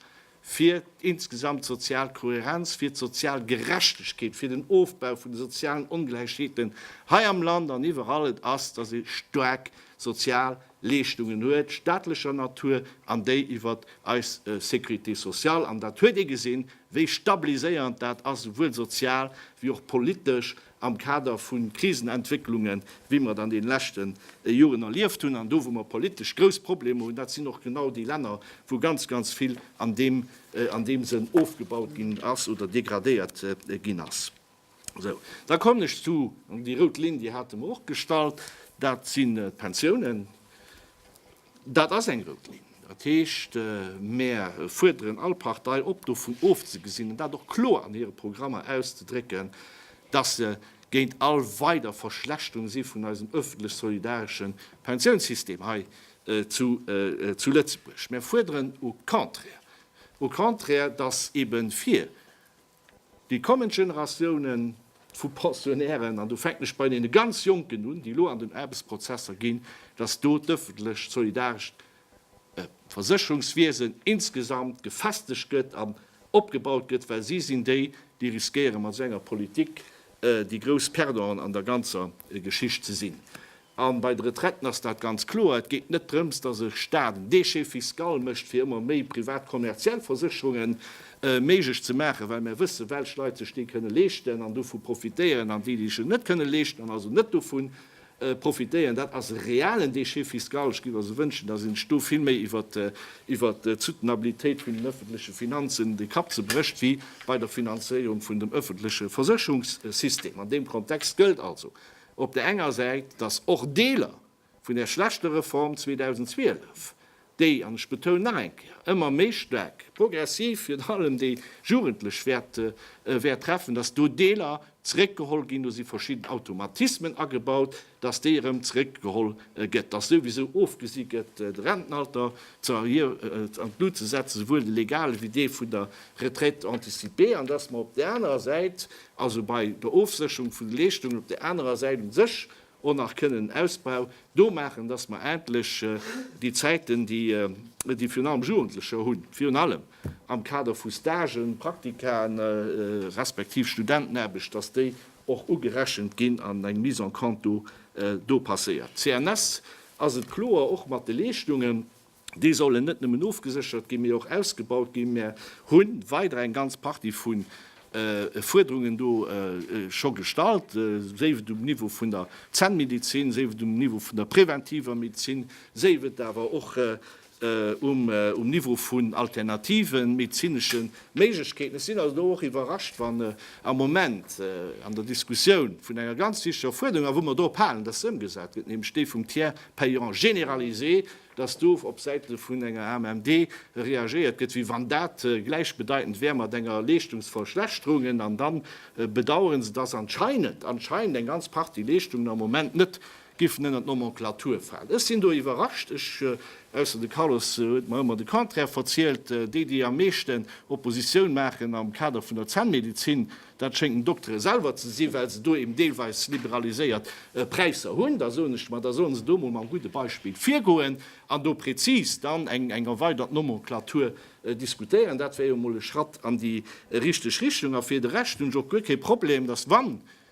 fir insgesamt d'sozial Kohärenz, fir d'sozial Gerechtegkeet, fir den Ofbau vun de sozialen Ongläichheeten hei am Land an iwwerall et ass, dass ee staark sozial Leeschtungen huet, staatlecher Natur an déi iwwer eis Sécurité sociale. An dat huet ee gesinn, wéi stabiliséierend dat ass, esouwuel sozial wéi och politesch, am Kader vu Krisenentwécklungen, wéi mer et an deene leschte Joren erlieft hunn, an do wou mer politesch grouss Problemer hunn, dat sinn och genau déi Länner, wou ganz, ganz vill an deem Sënn ofgebaut ginn ass oder degradéiert ginn ass. Esou, da kommen ech zu, an déi rout Linn, déi hate mer och gestallt, dat sinn d'Pensiounen. Dat ass eng rout Linn. Dat heescht, mär fuerderen all Partei op, dovun ofzegesinn, an dat och kloer an hire Programmer auszedrécken, dass se géint all weider Verschlechterung si vun eisem öffentlech solidaresche Pensiounssystem hei zu Lëtzebuerg. Mär fuerderen au contraire, au contraire, dass eben fir Déi kommend Generatiounen vu Pensionnairen, an do fänken ech bei deene ganz Jonken un, déi elo an den Aarbechtsprozesser ginn, dass do d'öffentlech solidarescht Versécherungswiesen insgesamt gefestegt gëtt an opgebaut gëtt, well si sinn déi, déi riskéieren, mat esou enger Politik déi grouss Perdanten an der ganzer Geschicht ze sinn. A bei de Retraiten ass dat ganz kloer. Et geet net drëms, dass e Stat en Déchet fiscal mécht, fir ëmmer méi privat kommerziell Versécherunge méiglech ze maachen, well mär wëssen, welch Leit sech déi kënne leeschten an dovu profitéieren an déi, déi sech net kënne leeschten an also net dovu profitéieren. Dat ass e realen Déchet fiscal. Ech géif also wënschen, dass een sech do vill méi iwwert d'Soutenabilitéit vun den öffentleche Finanzen de Kapp zerbrécht wéi bei der Finanzéierung vun dem öffentleche Versécherungssystem. An deem Kontext gëllt also, op der enger Säit, dass och Deeler vun där schlechter Reform 2012, déi, an ech betounen nach eng Kéier, ëmmer méi staark progressiv virun allem déi Jugendlech wäert treffen, dass do Deeler zréckgeholl ginn, do si verschidden Automatismen agebaut, dass déi erëm zréckgeholl gëtt, dass souwisou ofgesi gëtt, de Rentenalter an d'Lut ze setzen, souwuel de legale wéi dee vun der Retraite anticipée, an dass mer op där anerer Säit, also bei der Ofsécherung vun de Leeschtungen, op där anerer Säit u sech och nach kënnen en Ausbau do maachen, dass mer endlech déi Zäiten, déi virun allem Jugendlecher hunn, virun allem am Kader vu Stagen, Praktikaen, respektiv Studentenaarbecht, dass déi och ugerechent ginn an eng Mise en compte do passéiert. CNS ass et kloer, och mat de Leeschtungen, Déi sollen net nëmmen ofgeséchert ginn, mee och ausgebaut ginn. Mär hu weider eng ganz Partie vu Fuerderungen do scho gestallt, séif et um Niveau vun der Zännmedezin, séif et um Niveau vun der präventiver Medezin, séif et awer och um Niveau vun alternative medezinesche Méiglechkeeten. Ech sinn also do och iwwerrascht, wann am Moment an der Diskussioun vun enger ganz wichtiger Fuerderung, a wou mer drop halen, datt se ëmgesat gëtt, nämlech déi vum Tiers payant généralisé, dass do op Säite vun enger AMMD reagéiert gëtt, wéi wann dat gläichbedeitend wär mat enger Leeschtungsverschlechterung. An da bedauern se, dass anscheinend, anscheinend eng ganz Partie Leeschtungen am Moment net giffen ënnert d'Nomenclature falen. Ech sinn do iwwerrascht. Ech, ausser de Carlos huet mer ëmmer de Contraire verzielt, déi, déi am meeschten Oppositioun maachen am Kader vun der Zännmedizin, Dat schéngt den Doktere selwer ze sinn, well se do eben deelweis liberaliséiert Präisser hunn. Da soen ech mer, da solle se do emol mam gudde Beispill virgoen an do prezis dann eng erweidert Nomenclature diskutéieren. Dat wär jo emol e Schratt an déi richteg Richtung. A fir de Rescht hunn ech och guer kee Problem, dass, wa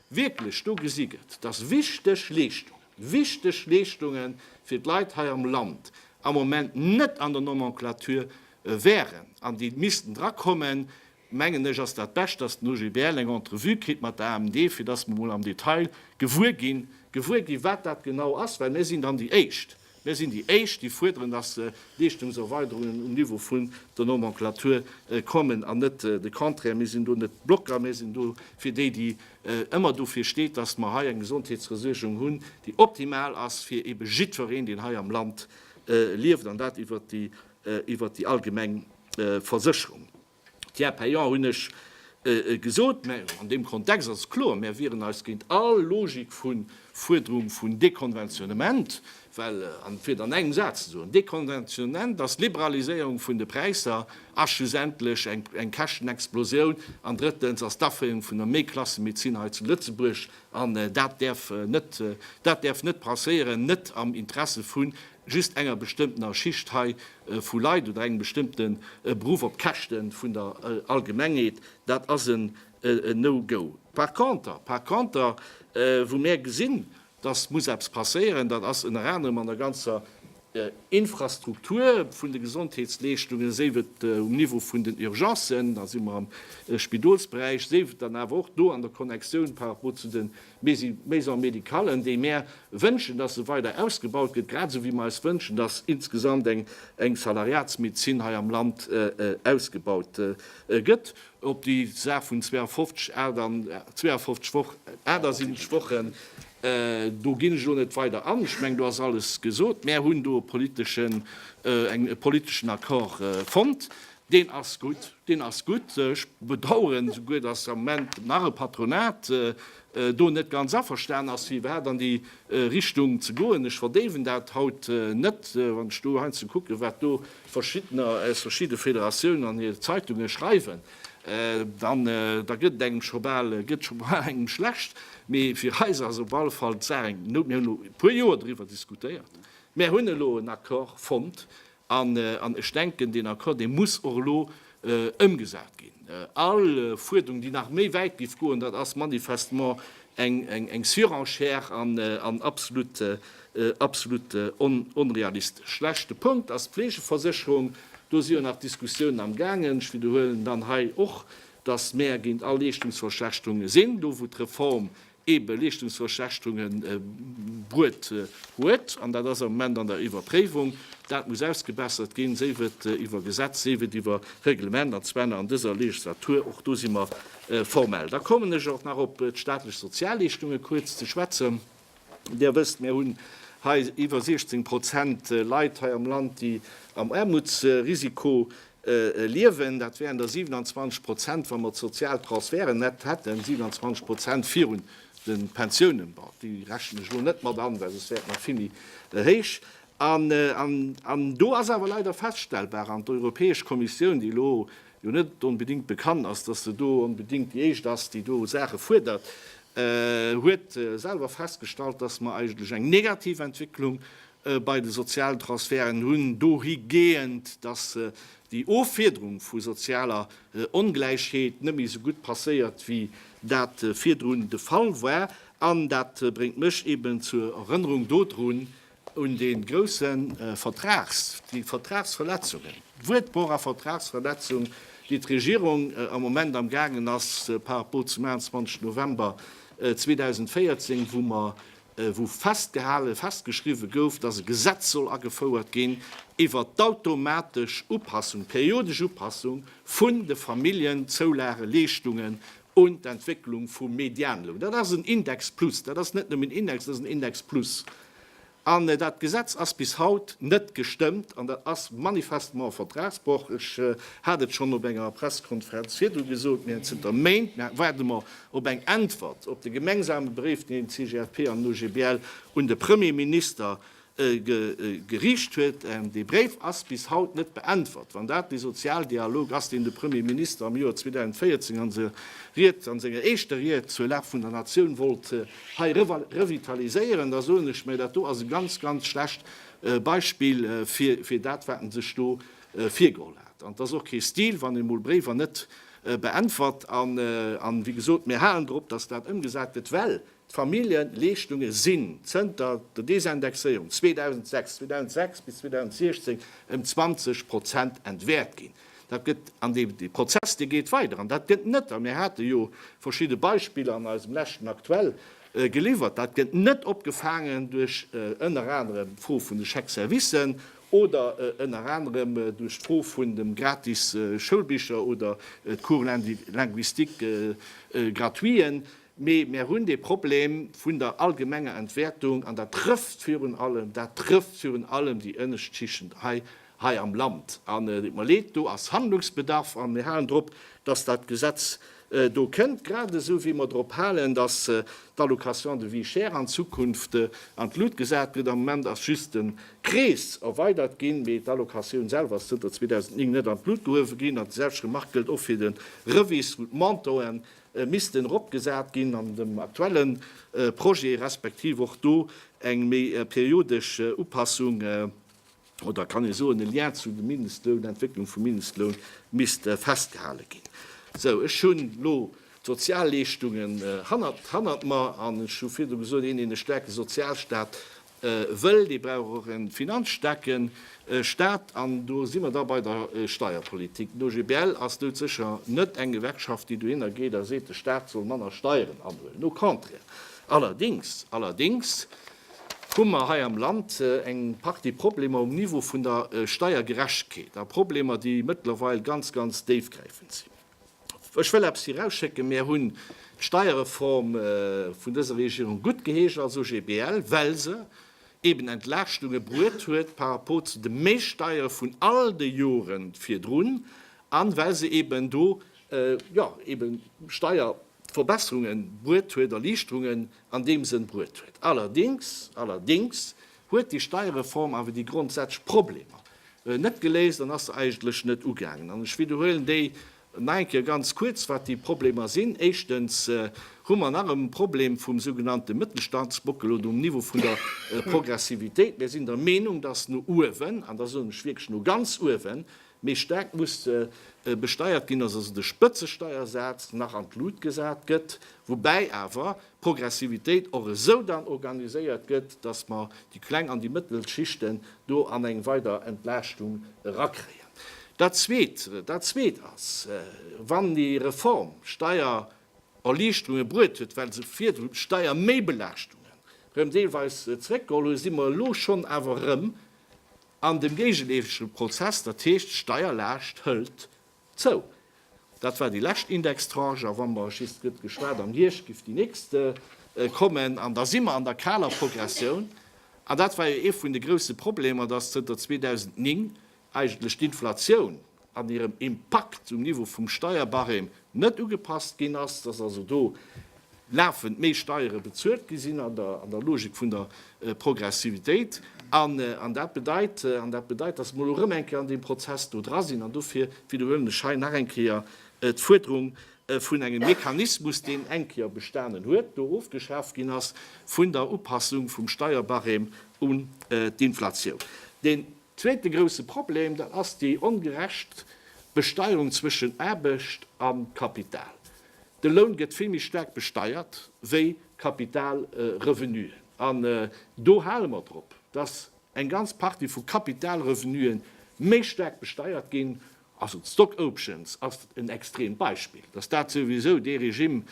wierklech do gesi gëtt, dass wichteg Leeschtungen, wichteg Leeschtunge fir d'Leit hei am Land am Moment net an der Nomenclature wären an déi missten drakommen, mengen ech, ass dat Bescht, dass den OGBL eng Entrevue kritt mat der AMD, fir dass mer emol am Detail gewuer ginn, gewuer ginn, wat dat genau ass, well mir sinn dann déi Éischt, mir sinn déi Éischt, déi fuerderen, dass Leeschtungserweiderungen um Niveau vun der Nomenclature kommen an net de Contraire. Mir sinn do net Blocker, mir sinn do fir déi, déi ëmmer dofir steet, dass mer hei eng Gesondheetsversuergung hunn, déi optimal ass fir ebe jiddwereen, deen hei am Land lieft, an dat iwwert déi, iwwert déi allgemeng Versécherung. Tiers payant hunn ech gesot, mä an deem Kontext ass et kloer, Mir wieren eis géint all Logik vu Fuerderung vun Dekonventionnement, well, an fir et an engem Saz ze soen, Dekonventionement ass Liberaliséierung vun de Präisser a schlussendlech eng Käschtenexplosioun an drëttens ass d'Aféierung vun der Méi-Klasse-Medezin hei zu Lëtzebuerg an dat däerf net, dat däerf net passéieren, net am Interesse vun just enger bestëmmtener Schicht hei vu Leit oder engem bestëmmte Beruff op Käschte vun der Allgemengheet, dat ass en No-Go. Par conter, par conter, wou mär gesinn, datt muss eppes passéieren, dat ass ënner anerem an der ganzer Infrastruktur vun de Gesondheetsleeschtungen, séif et um Niveau vun den Urgencen, da si mer am Spidolsberäich, séif et dann awer och do an der Connectioun par rapport zu de Mir si Maison médicale an déi mär wënschen, dass se weider ausgebaut gëtt, grad esou wéi mer eis wënschen, dass insgesamt eng Salariatsmedezin hei am Land ausgebaut gëtt. Op déi Saach vun 52, 8 an 52 Woch, 78 Wochen, do ginn ech elo net weider an. Ech mengen, do ass alles gesot. Mär hunn do e politeschen Accord fonnt. Deen ass gutt, deen ass gutt. Ech bedauern souguer, dass am Moment nach e Patronat do net ganz averstanen ass, firwat an déi Richtung ze goen. Ech verdéiwen dat haut net. Wann ech do heiansdo kucken, wat do Verschiddener aus verschidde Federatiounen an hir Zeitunge schreiwen, dann da gëtt et engem scho bal, gëtt scho bal engem schlecht. Mee fir eis ass op alle Fall d'Saach eng, mir hunn elo e puer Joer driwwer diskutéiert, mär hunn elo en Accord fonnt An ech denken, deen Accord, dee muss och elo ëmgesat ginn. All Fuerdung, déi nach méi wäit géif goen, dat ass manifestement eng Surenchère an absolut onrealistesch. Leschte Punkt ass d'Fleegeversécherung. Do si jo nach Diskussiounen am gaangen. Ech widderhuelen dann hei och, dass mäer géint all Leeschtungsverschlechterunge sinn, do wou d'Reform ebe Leeschtungsverschlechterunge bruet huet, an dat ass am Moment an der Iwwerpréiwung. Dat muss ausgebessert ginn, séif et iwwer Gesetz, séif et iwwer Reglement, an zwar nach an dëser Legislatur. Och do si mer formell. Da kommen ech och nach op d'staatlech Sozialleeschtunge kuerz ze schwätzen. Dir wësst, mir hunn hei iwwer 16 Prozent Leit hei am Land, déi am Aarmutsrisiko liewen. Dat wären der 27 Prozent, wa mer d'sozial Transferten net hätten, 27 Prozent virun de Pensiounen. Bon, déi rechnen ech elo net mat an, well soss wär et nach vill méi héich. An do ass awer leider feststellbar, an d'Europäesch Kommissioun, déi elo jo net onbedéngt bekannt ass, dass se do onbedéngt déi éischt ass, déi do Saache fuerdert, huet selwer festgestallt, dass mer eigentlech eng negativ Entwécklung bei de sozialen Transferten hunn, dohigehend, dass déi Offiederung vu sozialer Ongläichheet net méi esou gutt passéiert, wéi dat virdrun de Fall war. An dat bréngt mech eben zur Erënnerung dodrun, un dee grouse Vertrags, déi Vertragsverletzungen, Wuert pour a Vertragsverletzung, déi d'Regierung am Moment amgaangen ass par rapport zum 21 November 2014, wou mer wou festgehale, festgeschriwwe gouf, dass e Gesetz soll agefouert ginn iwwert d'automatesch Upassung, periodesch Upassung vun de Familljenzoulageleeschtungen un d'Entwécklung vum Medianloun. Dat ass en Index plus, dat ass net nëmmen en Index, dat ass en Index plus. An dat Gesetz ass bis haut net gestëmmt an dat ass manifestement e Vertragsbroch. Ech hat et schonn op enger Pressekonferenz virdu gesot, mir hunn zënter Méint, mir waarde mer Op eng Äntwert op de gemengsame Bréif, deen d'CGFP an den OGBL un de Premier Minister geriicht huet. Dee Bréif ass bis haut net beäntwert. Wann dat dee Sozialdialog ass, deen de Premier Minister am Joer 2014 a senger Ried, a senger éischter Ried zur Lag vun der Natioun wollt hei revitaliséieren, da soen ech mär, dat do ass e ganz, ganz schlecht Beispill fir dat, wat en sech do virgeholl hat. An et ass och kee Stil, wann emol Bréiwer net beäntwert an wéi gesot, mir halen drop, dass dat ëmgesat gëtt, well d'Familljeleeschtunge sinn zënter der Desindexéierung 2006, 2006 bis 2016, ëm 20 Prozent entwäert ginn. Dat gëtt, an dee Prozess dee geet weider an dat gëtt net, a mir hate jo verschidde Beispiller an eisem leschten Aktuell geliwwert, dat gëtt net opgefaangen duerch ënner anerem d'Fro vun de Chèques-services oder ënner anerem duerch d'Fro vun dem gratis Schoulbicher oder d'Cours linguistique gratuiten, mee mär hunn dee Problem vun der allgemenger Entwäertung an dat trëfft virun allem, dat trëfft virun allem déi ënnescht Schichten hei, hei am Land. An et deet mer leed, do ass Handlungsbedarf an mir halen drop, dass dat Gesetz do kënnt, grad esou wéi mer drop halen, dass d'Allocation de vie chère an Zukunft an d'Lut gesat gëtt. Am Moment ass just de Krees erweidert ginn, mee d'Allocatioun selwer ass zënter 2009 net an d'Lut gehuewe ginn. An déi selwecht Remark gëllt och fir de Revis, wou d'Montoen missten eropgesat ginn an dem aktuelle Projet, respektiv och do eng méi periodesch Upassung oder kann ee soen, e Lien zu de Mindestloun, d'Entwécklung vum Mindestloun misst festgehale ginn. Sou, ech hunn elo d'Sozialleeschtungen hannert mer an ech hu virdu gesot, een, deen e staarke Sozialstaat wëll, dee brauch och e finanzstaarke Staat. An do si mer da bei der Steierpolitik. Den OGBL ass dout sécher net eng Gewerkschaft, déi dohinner geet a seet, de Staat soll manner Steieren anhuelen, au contraire. Allerdéngs, allerdéngs hu mer hei am Land eng Partie Problemer um Niveau vun der Steiergerechtkeet a Problemer, déi mëttlerweil ganz, ganz déifgräifend sinn. Ech wëll eppes virausschécken, Mär hunn d'Steierreform vun dëser Regierung guttgeheescht als OGBL, well se eeben Entlaaschtunge bruet huet par rapport zu de Méissteiere vun all de Jore virdrun a well se eeben do, jo, eebe Steier, Verbesserungen bruet huet, Erliichterungen an deem Sënn bruet huet. Allerdings, allerdings huet déi Steierreform awer déi grondsätzlech Problemer net geléist an ass se eigentlech net ugaangen. An ech widderhuelen déi nach eng Kéier ganz kuerz, wat déi Problemer sinn. Éischtens hu mer nach e Problem vum sougenannte Mëttelstandsbockel oder um Niveau vun der Progressivitéit. Mir sinn der Meenung, dass no uewen, an da soen ech wierklech no ganz uewen, Méi staark muss besteiert ginn, dass also de Spëtzesteiersaz nach an d'Lut gesat gëtt, woubäi awer d'Progressivitéit och esou dann organiséiert gëtt, dass mer déi kleng an déi mëttel Schichte do an eng weider Entlaaschtung erakréien. Dat Zweet, dat Zweet ass, wann déi Reform Steiererliichterunge bruet huet, well se virdru Steierméibelaaschtunge rëm deelweis zréckgeholl huet, si mer elo schonn awer erëm An dem géigeleefege Prozess, dat heescht, d'Steierlaascht hëlt zou. Dat war déi lescht Indextranche, a wa mer just, et gëtt geschwat, am Hierscht géif déi nächst kommen, an da si mer an der kaler Progressioun. An dat war jo ee vun de grouse Problemer, dass zënter 2009 eigentlech d'Inflatioun, an hirem Impakt um Niveau vum Steierbarème net ugepasst ginn ass, dass also do lafend méi Steiere bezuelt gi sinn an der Logik vun der Progressivitéit. An dat bedeit, an dat bedeit, dass mer elo erëm eng Kéier an deem Prozess do dra sinn. An dofir widderhuelen ech hei nach eng Kéier d'Fuerderung vun engem Mechanismus, deen eng Kéier bestanen huet, do ofgeschaaft ginn ass, vun der Upassung vum Steierbarème un d'Inflatioun. Zweete grousse Problem, dat ass déi ongerecht Besteierung zwëschen Aarbecht a Kapital. De Loun gëtt vill méi staark besteiert wéi Kapitalrevenuen. An do hale mer drop, dass eng ganz Partie vu Kapitalrevenuen méi staark besteiert ginn, Also d'Stock Options ass en extremt Beispill. Datt dat souwisou, dee Regime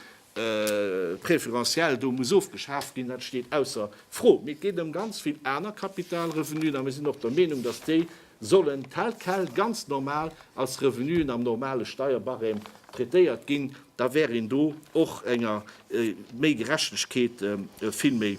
préférentiel do, muss ofgeschaaft ginn, dat steet ausser Fro. Mee et geet ëm ganz vill aner Kapitalrevenuen, a mir sinn och der Meenung, datt déi sollen tel quel ganz normal als Revenuen am normale Steierbarème traitéiert ginn. Da wär een do och enger méi Gerechtegkeet vill méi,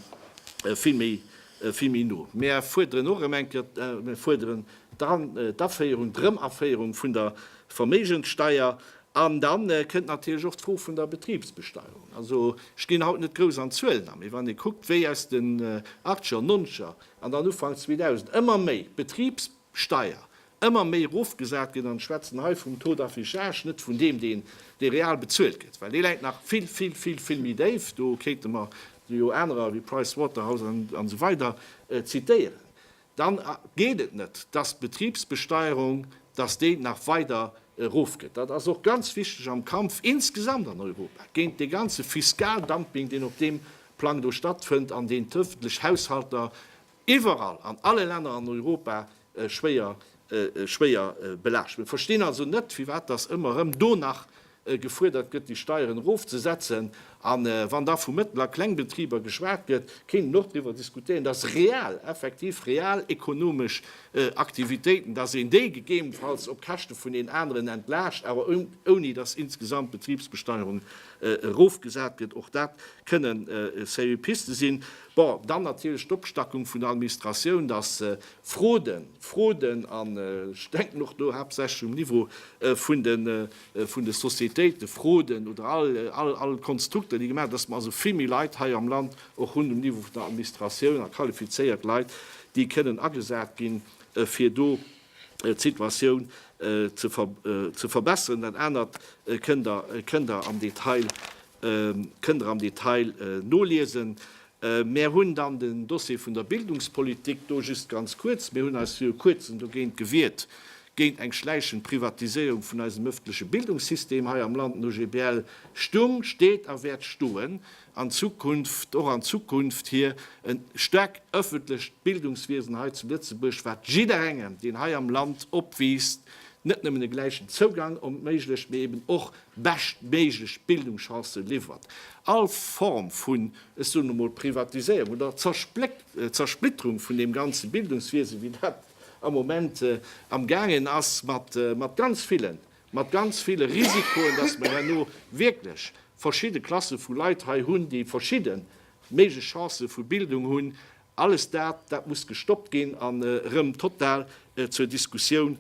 vill méi vill méi no. Mär fuerderen och erëm eng Kéier, mär fuerderen dann d'Aféierung, d'Erëmaféierung vun der Verméigenssteuer. An dann kënnt natierlech och d'Fro vun der Betriebsbesteuerung. Also, ech ginn haut net grouss an Zuelen an, mee wann ee kuckt, wéi aus den Achtscher, Nonzger an dann Ufank 2000 ëmmer méi d'Betriebssteuer ëmmer méi erofgesat ginn an ech schwätzen hei vum Taux d'affichage, net vun deem deen dee real bezuelt gëtt, well dee läit nach vill, vill, vill, vill méi déif, do kéinte mer jo anerer ewéi Price Waterhouse an esou weider zitéieren, dann geet et net, dass d'Betriebsbesteuerung, dass déi nach weider erofgëtt. Dat ass och ganz wichteg am Kampf insgesamt an Europa géint dee ganze Fiskaldumping, deen op deem Plang do stattfënnt an deen d'öffentlech Haushalter iwwerall an alle Länner an Europa schwéier belaascht. Mir verstinn also net, firwat datt ëmmer erëm do nach gefuerdert gëtt, déi Steieren erofzesetzen. A wann da vu Mëttel a Klengbetriber geschwat gëtt, kéint een och driwwer diskutéieren, datt real, effektiv real ekonomesch Aktivitéiten, datt een déi gegebenfalls op Käschte vun den aneren entlaascht, awer ouni datt insgesamt d'Betribsbesteierung erofgesat gëtt. Och dat kënnen sérieux Piste sinn. Bon, dann natierlech d'Opstackung vun der Administratioun, dass Froden, Froden a ech denken och do haaptsächlech um Niveau vun de Sociétéiten, Froden oder all Konstrukter, déi gemaach, dass mer also vill méi Leit hei am Land och hunn um Niveau vun der Administratioun a qualifizéiert Leit, déi kënnen agesat ginn, fir do d'Situatioun ze verbessern. Dat anert kënnt Der am Detail Kënnt der am Detail noliesen. Mär hunn dann den Dossier vun der Bildungspolitik do. Just ganz kuerz, Mir hunn eis viru Kuerzem dogéint gewiert, géint eng schläichend Privatiséierung vun eisem ëffentleche Bildungssystem hei am Land. Den OGBL stung, steet a wäert stoen an Zukunft, och an Zukunft, hir e staarkt ëffentlecht Bildungswiesen hei zu Lëtzebuerg, wat jidderengem, deen hei am Land opwiisst, net nëmmen e gläichen Zougang erméiglecht, mee eben och beschtméiglech Bildungschancen liwwert, all Form vun, ech soen emol, Privatiséierung oder Zersplitterung vun deem ganze Bildungswiese wéi dat am Moment am gaangen ass, mat ganz villen, mat ganz ville Risikoen, datt mer herno wierklech verschidde Klasse vu Leit hei hunn, déi verschidde méiglech Chancen vu Bildung hunn, alles dat, dat muss gestoppt ginn an erëm total zur Diskussioun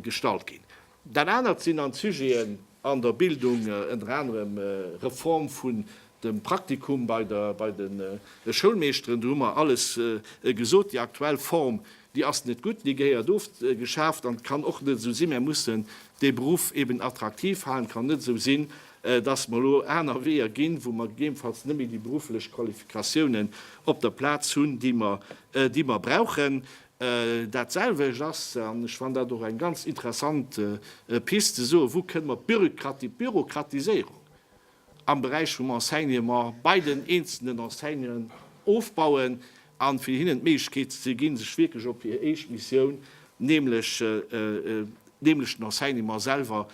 gestallt ginn. Dat anert sinn an d'Sujeten an der Bildung, ënner anerem Reform vun dem Praktikum bei der bei de Schoulmeeschteren. Do hu mer alles gesot, déi aktuell Form, déi ass net gutt, déi gehéiert ofgeschaaft an kann och net esou sinn. Mer mussen dee Beruff eben attraktiv halen. Et kann net esou sinn, dass mer elo aner Weeër ginn, wou mer gegebenfalls net méi déi berufflech Qualifikatiounen op der Plaz hunn, déi mer déi mer brauchen. Dat selwecht ass, an ech fannen dat och eng ganz interessant Pist, ze soen, wou kënne mer d'Bürokratiséierung am Beräich vum Enseignement bei den eenzelnen Enseignanten ofbauen, a fir hinnen d'Méiglechkeet ze ginn, sech wierklech op hir eescht Missioun, nämlech den Enseignement selwer,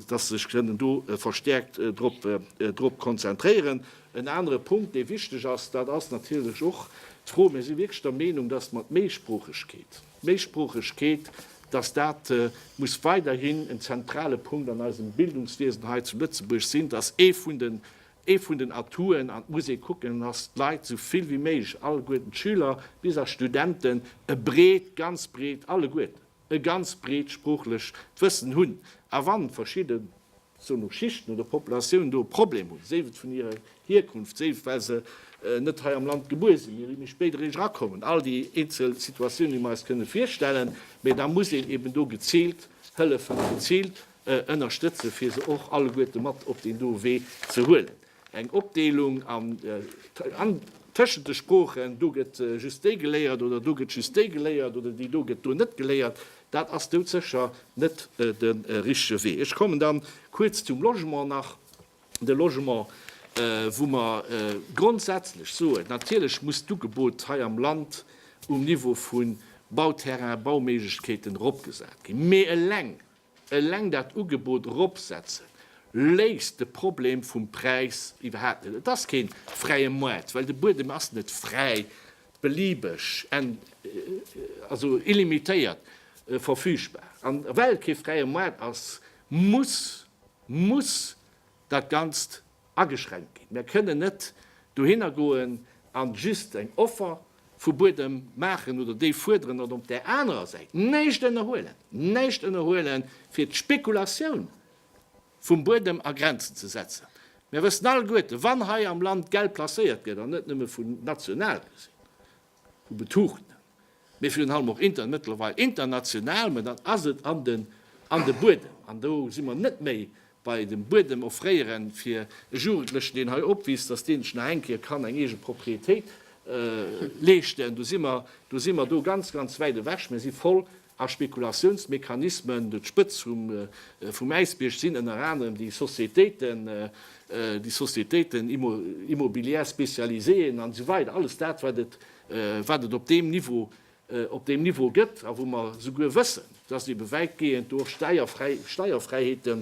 dass se sech kënnen do verstäerkt drop konzentréieren. En anere Punkt, dee wichteg ass, dat ass natierlech och d'Fro, mir si wierklech der Meenung, dass mer d'Méisproochegkeet, d'Méisproochegkeet, dass dat muss weiderhin en zentrale Punkt an eisem Bildungswiesen hei zu Lëtzebuerg sinn, dass ee vun den, ee vun den Atouten, an et muss ee kucken, dass d'Leit esou vill wéi méiglech, alleguerten d'Schüler bis a Studenten, e breet, ganz breet, alleguerten, e ganz breet sproochlech d'Wëssen hunn, a wann verschidden, soen och Schichten oder Populatioun do e Problem hunn, séif et vun hirer Hierkunft, séif well se net hei am Land gebuer sinn, mee vill méi spéit eréischt erakommen, all déi eenzel Situatiounen, déi mer eis kënne virstellen, mee da muss een eben do geziilt hëllefen, geziilt ënnerstëtzen, fir se och alleguerte mat op deen do Wee ze huelen. Eng Opdeelung an an tëschent de Sproochen, do gëtt just déi geléiert oder do gëtt just déi geléiert oder déi do gëtt do net geléiert, dat ass doudsécher net de richtege Wee. Ech kommen da kuerz zum Logement nach. De Logement, wou mer grondsätzlech soen, natierlech muss d'Ugebot hei am Land um Niveau vu Bauterrain, Bauméiglechkeeten eropgesat ginn, mee eleng Eleng dat Ugebot eropsetzen léist de Problem vum Präis iwwerhaapt net. Et ass keen fräie Moart, well de Buedem ass net fräi, beliebeg, also illimitéiert verfügbar. An well et kee fräie Moart ass, muss, muss dat Ganzt ageschränkt ginn. Mir kënnen net dohinner goen a just eng Offer vu Buedem maachen oder déi fuerderen an op där anerer Säit näischt ënnerhuelen, näischt ënnerhuelen, fir d'Spekulatioun vum Buedem a Grenzen ze setzen. Mir wëssen alleguerten, wann hei am Land Geld placéiert gëtt, an net nëmme vun national gesinn, Hu betucht, mee virun allem och Internet, mëttlerweil international, mä dann ass et an den an de Buedem. An do si mer net méi bei dem Buedem offréieren fir e Jugendlechen, deen hei opwiisst, dass dee sech nach eng Kéier kann eng eege Propriétéit leeschten. Do si mer do si mer do ganz, ganz wäit ewech. Mir si voll A Spekulatiounsmechanismen un d'Spëtz vum Äisbierg sinn ënner anerem déi Sociétéiten, déi Sociétéiten immobilières spécialisées an esou weider, alles dat, wat et op deem Niveau, op deem Niveau gëtt a wou mer souguer wëssen, dass ebe wäitgehend do och steierfräi, Steierfräiheete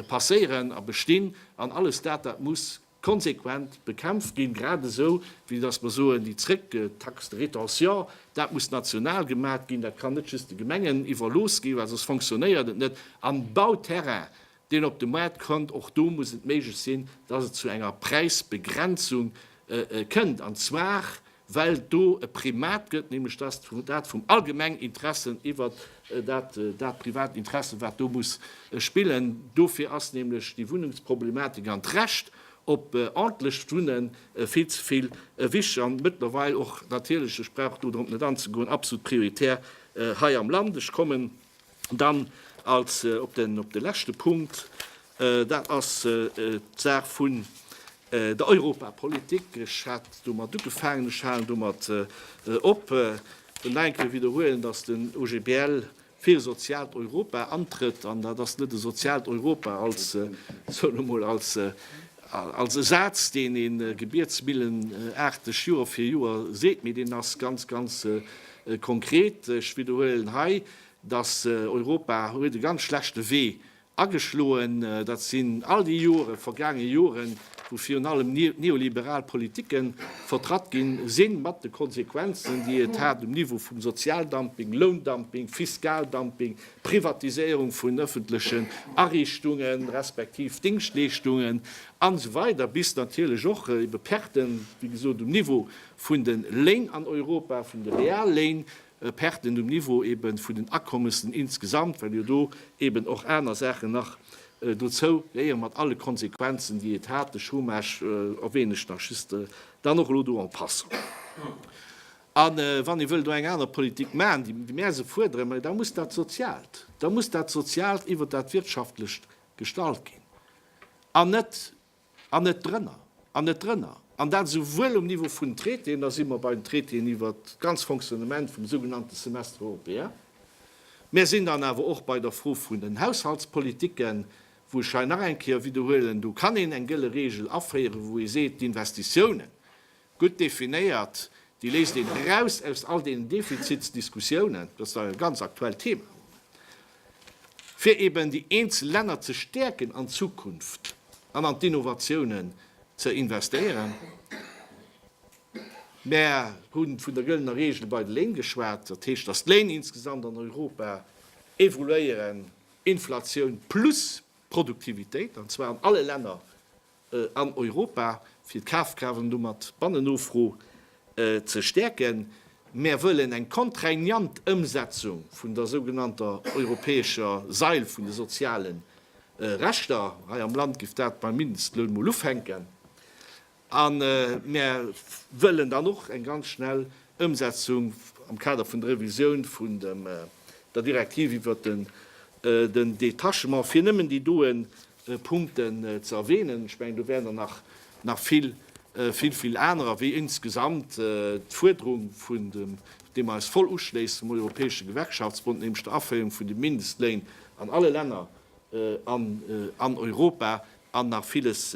passéieren a bestinn. An alles dat, dat muss. konsequent bekämpft ginn, grad esou wéi datt mer soen, déi zréck, Taxe de rétention, dat muss national gemat ginn, dat kann net just de Gemengen iwwerlooss ginn, well soss fonctionnéiert et net. An Bauterrain, deen op de Maart kënnt, och do muss et méiglech sinn, datt et zu enger Präisbegrenzung kënnt, an zwar well et do e Primat gëtt, nämlech dass dat vum allgemengen Interesse iwwer dat privat Interesse, wat do muss spillen. Dofir ass nämlech déi Wunnungsproblematik an d'Recht op ordentlecht Wunne vill ze vill wichteg an mëttlerweil och natierlech, ech brauch do drop net anzegoen, absolut prioritär hei am Land. Ech kommen. Dann als op de leschte Punkt, dat ass d'Saach vun der Europapolitik. Ech hat domat ugefaangen, ech halen domat op. Ech wëll nach eng Kéier widderhuelen, dass den OGBL fir e soziaalt Europa antrëtt. An dat ass net e soziaalt Europa als, ech soen elo mol, als e Saz, deen ee gebietsmillenaarteg Joer fir Joer seet, mee deen ass ganz, ganz konkret. Ech widderhuelen hei, datt Europa huet e ganz schlechte Wee ageschloen, dat sinn all déi Jore vergaange Joren, wou virun allem neoliberal Politike vertratt gi sinn, mat de Konsequenzen, déi et hat um Niveau vum Sozialdumping, Loundumping, Fiskaldumping, Privatiséierung vun öffentlechen Ariichtunge respektiv Dingschtleeschtungen an esou weider bis natierlech och ebe Perten, wéi gesot, um Niveau vun de Léin an Europa, vun de Realléin. Perten um Niveau eben vun den Akommessen insgesamt, well jo do eben och aner Saachen nach dozou gehéieren, mat alle Konsequenzen, déi et hat, de Chômage erwähne ech nach just dann och elo do en passant. A wann ee wëll do eng aner Politik maachen, déi mär esou fuerderen, ma da muss dat Sozialt, da muss dat Sozialt iwwert dat Wirtschaftlecht gestalt ginn an net, An net drënner. An net drënner. An dat esouwuel um Niveau vun Traitéen, da si mer bei den Traitéen iwwert d'ganz Fonctionnement vum sougenannte Semestre européen, mir sinn dann awer och bei der Fro vun den Haushaltspolitiken, wou ech hei nach eng Kéier widderhuelen, do kann een eng gëlle Regel aféieren, wou ee seet, d'Investitiounen, Gutt definéiert, déi léist een eraus aus all deenen Defizitsdiskussiounen, dat ass dach e ganz aktuellt Thema am Moment, fir eben déi eenzel Länner ze stäerken an d'Zukunft an an d'Innovatiounen ze investéieren. Mär hu vun der gëllener Regel bei de Léin geschwat, dat heescht, datt d'Léin insgesamt an Europa evoluéieren, Inflatioun plus Produktivitéit, an zwar an alle Länner an Europa, fir d'Kafkraaft an domat d'Bannennofro ze stäerken. Mär wëllen eng contraignant Ëmsetzung vun der sougenannter europäescher Sail vun de soziale Rechter. Hei am Land giff dat beim Mindestloun mol ufänken. A mär wëllen dann och eng ganz schnell Ëmsetzung am Kader vun der Revisioun vun der Direktiv iwwert den Detachement, fir nëmmen déi doe Punkten ze erwähnen. Ech mengen, do wären der nach vill, vill, vill anerer, wéi insgesamt d'Fuerderung, deem mer eis voll uschléissen, vum Europäesche Gewerkschaftsbond, nämlech der Aféierung vun de Mindestléin an alle Länner an Europa, an nach villes,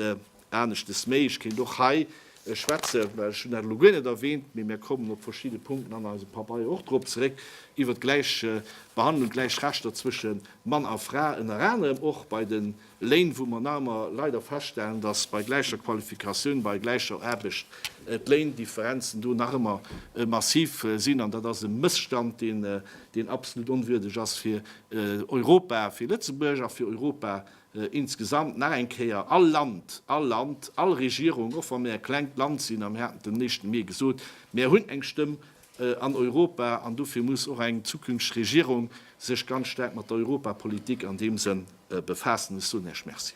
Aneschtes méi, ech kéint och hei schwätzen, well ech hunn dat elo guer net erwähnt, mee mir kommen op verschidde Punkten an eisem Pabeier och drop zeréck, iwwert d'Gläichbehandlung, d'gläich Rechter zwësche Mann a Fra, ënner anerem och bei de Léin, wou mer nach ëmmer leider feststellen, dass bei gläicher Qualifikatioun, bei gläicher Aarbecht d'Léindifferenzen do nach ëmmer massiv sinn. An dat ass e Mësstand, deen absolut onwürdeg ass fir Europa, fir Lëtzebuerg a fir Europa Insgesamt, nach eng Kéier, all Land, all Land, all Regierung, och wa mir e klengt Land sinn, a mir haten et dem Néchten Mee gesot, mir hunn eng Stëmm an Europa, an dofir muss och eng zukünfteg Regierung sech ganz staark mat der Europapolitik an deem Sënn befaassen. Ech soen Iech Merci.